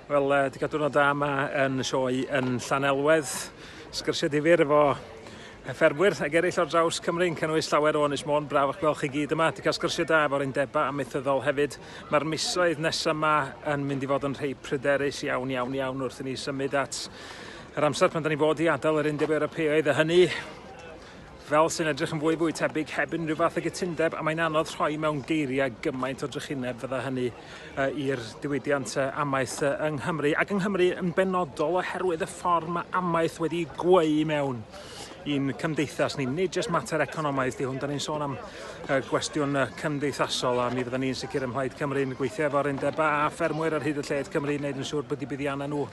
Wel, uh, di gadw'n o da yma yn y sioe yn Llanelwedd. Sgyrsiau difyr efo ffermwyr ag eraill ar draws Cymru yn cynnwys llawer o Ynys Môn. Braf o'ch gweld chi gyd yma. Di cael sgyrsiau da efo'r undebau amaethyddol hefyd. Mae'r misoedd nesaf yma yn mynd i fod yn rhai pryderus iawn, iawn, iawn wrth i ni symud at yr amser pan da ni fod i adael yr Undeb Ewropeaidd a hynny fel sy'n edrych yn fwy fwy tebyg heb unrhyw fath o gytundeb, a mae'n anodd rhoi mewn geiriau gymaint o drychineb fydda hynny uh, i'r diwydiant uh, amaeth uh, yng Nghymru, ac yng Nghymru yn benodol oherwydd y ffordd mae amaeth wedi gweu mewn i'n cymdeithas ni. Nid jyst mater economaidd di hwn, da ni'n sôn am uh, gwestiwn uh, cymdeithasol a mi fydda ni'n sicr ym Mhlaid Cymru'n gweithio efo'r undeba a ffermwyr ar hyd y lled Cymru wneud yn siŵr bod i buddiannau nhw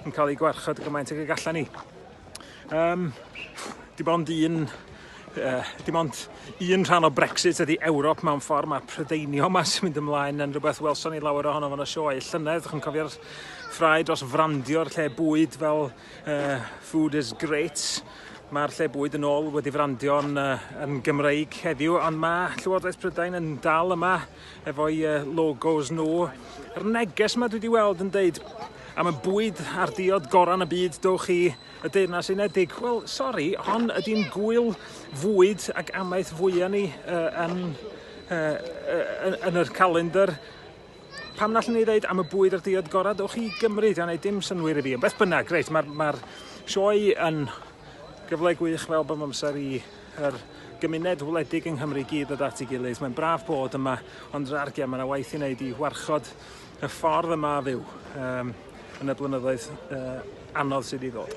yn cael eu gwarchod gymaint ag y gallan ni. Um, dim ond un uh, dim ond un rhan o Brexit ydy Ewrop mewn ffordd, mae prydeinio yma sy'n mynd ymlaen yn rhywbeth welson ni lawer ohono fan y sioe llynedd, ydych chi'n cofio'r ffrae dros frandio'r lle bwyd fel uh, food is great, mae'r lle bwyd yn ôl wedi frandio'n uh, yn Gymreig heddiw, ond mae Llywodraeth Prydain yn dal yma efo'i uh, logos nhw. Yr neges yma dwi wedi weld yn deud am y bwyd a'r diod gorau yn y byd, dowch i y Deyrnas Unedig. Wel, sori, hon ydy'n gwyl fwyd ac amaeth fwyaf ni uh, yn, uh, yn yr calendar. Pam na allwn ni ddeud am y bwyd a'r diod gorau, dowch i Gymru, diolch ei dim synwyr i fi. Beth bynnag, greit, mae'r ma, sioe yn gyfle gwych fel bod amser i yr gymuned wledig yng Nghymru i gyd ddod at ei gilydd. Mae'n braf bod yma, ond yr argiau, mae yna waith i wneud i warchod y ffordd yma a fyw um, yn y blynyddoedd uh, anodd sydd i ddod.